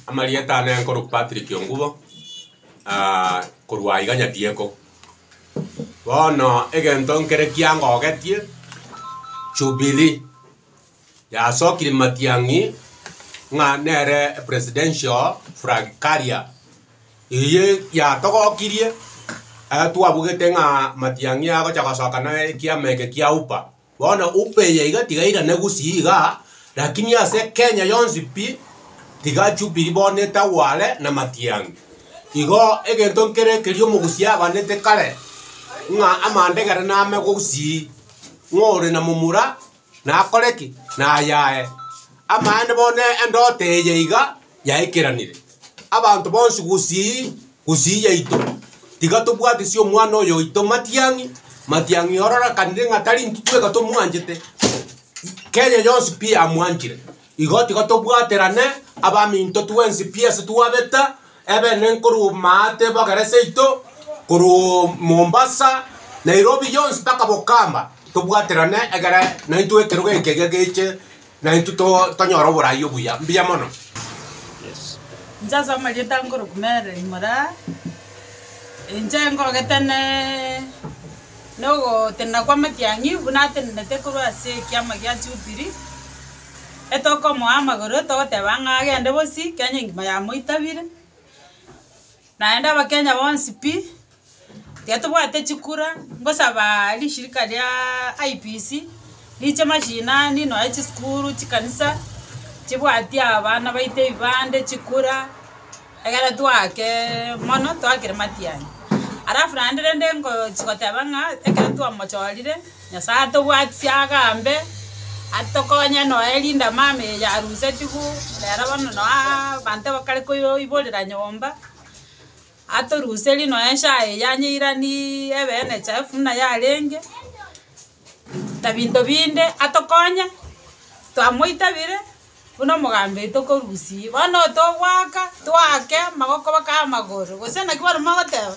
Amarieta ane nkorwa Patrick Ongubo, ah, korwa aiga Nyadieko. Bono egento nkere kiangogetie, Jubilee yasokire Matiang'i ng'a nere presidential flag carrier. Eye yatogokirie, ekero twabugete ng'a Matiang'i agocha gosoka na ekiama eke kia UPA, Bono upeye iga tiga irane gusii iga, lakini ase Kenya yonsi pi, tiga Jubilee bono etagwe are na Matiang'i. Igo egento nkere ekeria omogusia abanete kare, ng'a amandegere name gusii, ng'a ore na momura nakore ki? Nayae. Amaene bono endoto eye iga. yaikeranire, abanto bonsi gusii gusii yaito, tiga tobwatisie omwana oyo oito matiang'i, matiang'i ororekanire ng'a tari intwe tweka tomwanchete, Kenya yonsi pi yamwanchire. Igo tiga tobwaterane abaminto twensi pi ase twabeta ebene nkorwa Maate ebogera seito, korwa Mombasa, Nairobi yonsi mpaka Bokamba, tobwaterane egere naintwe ekerogo eke geche. Na intwe to- tonyore oborai obuya. Mbuya mono. Inche ase amarieta a Ngoroku Mary Moraa, inche ngogete ne nogotenena kwa amatiang'i buna atenenete korwa ase ekiama gia Jubilee, etokomoa amagoro togoteba ng'a agende bosi Kenya engima yamoitabire, naende abakenya bonsi pi Tiga tobwate chikura, ngosabaa rishirika riaaa IPC, riche mashinani nonya chisukuru, chikanisa, chibwatie abana baito ebibande, chikura, egere twakeeee mono twakere matianyi. Alafu naende rende ngochia goteba ng'a ekero twamochorire, Nyasaye atobwati siaga mbe, atokonye nonya erinde amaame eye yarusetiwu, rero bono noaa abanto bakare koyoiborera nyomba. Atoruserie nonya ense aye yanyeiranirie ebe enechafu buna yarenge, na binto binde atokonye, twamoitabire buna omogambi oito korusirie. Bono otogoaka, toake amagoko mpaka amagoro, gose naki baremogoteba.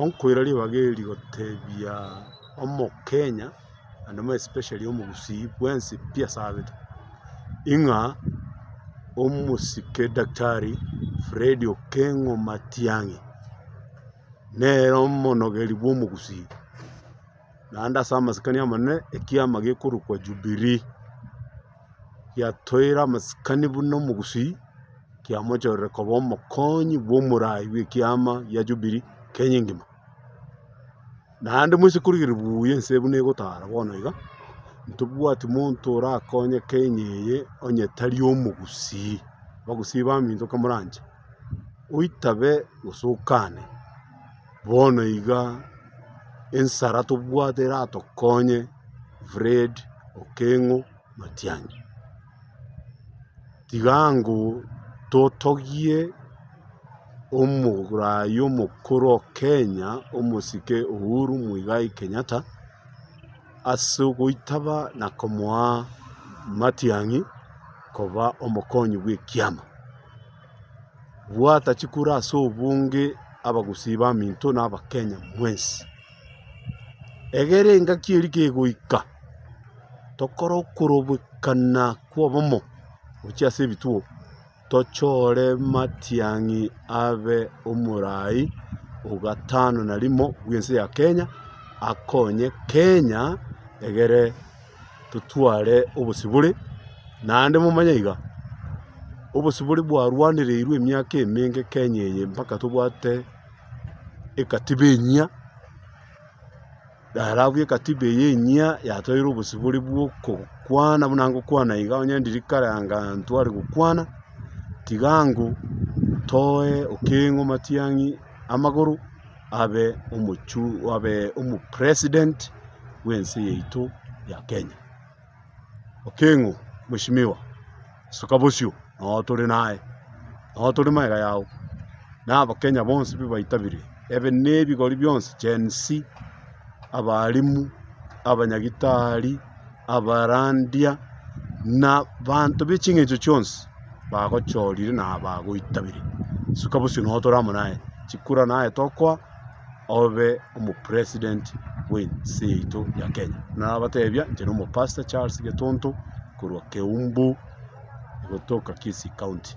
Onkoira ribaga eri gotebia omokenya naende more especially omogusii bwensi pi asabete, ing'a omosike daktari Freddy Okengo Matiang'i, nere omonogeri bw'omogusii, naende ase amasikani amanene ekiama gekorokwa Jubilee. Yatoeire amasikani buna omogusii, kiamochorire koba omokonyi bw'omorai bw'ekiama gia Jubilee Kenya engima. Naende moise korigereria buya ense buna egotara bono iga, ntobwati monto orakonye Kenya eye onye tari omogusii. Abagusii baminto kamoranche, oitabe gose okane. Bono iga ensara tobwate eratokonye Fred Okengo Matiang'i. Tiga ango totogie omoraai omokoro o Kenya omosike Uhuru Muigai Kenyatta ase ogoitaba na komoa Matiang'i koba omokonyi bw'ekiama. Bwata chikura ase obonge abagusii baminto na abakenya mwensi. Egere engaki eri kegoika tokore okorobekana kwa obomo gochia ase ebituo tochore matiang'i abe omorai ogatano na rimo bwense ya kenya akonye kenya egere. totware obosibore, naende momanye iga, obosibore bwarwanereirwe emiaka emenge Kenya eye mpaka tobwate ekatiba enyia, ere abwo ekatiba eye enyia yatoeire obosibore bw'okokwana buna ngokwana iga, onye ndiri kare anga ntware gokwana, tiga ango, toe okeng'u, matiang'i, amagoro. abe abe omopresident bw'ense yaito ya Kenya. Okengo mweshimiwa, soka bosio noo tore naye, noo tore magega yao, na abakenya bonsi mbabaitabirie, ebe nebigori bionsi Gen-z. abaalimu, abanyagitari, abarandia, na banto be ching'encho chionsi bagochorire na bagoitabire. Suka bosio no tore amo naye, chikura naye tokoa obe omo president bw'ense yaito ya Kenya. Nabatebia inche nomo pastor Charles Getonto korwa Keumbu gotoka Kisii county.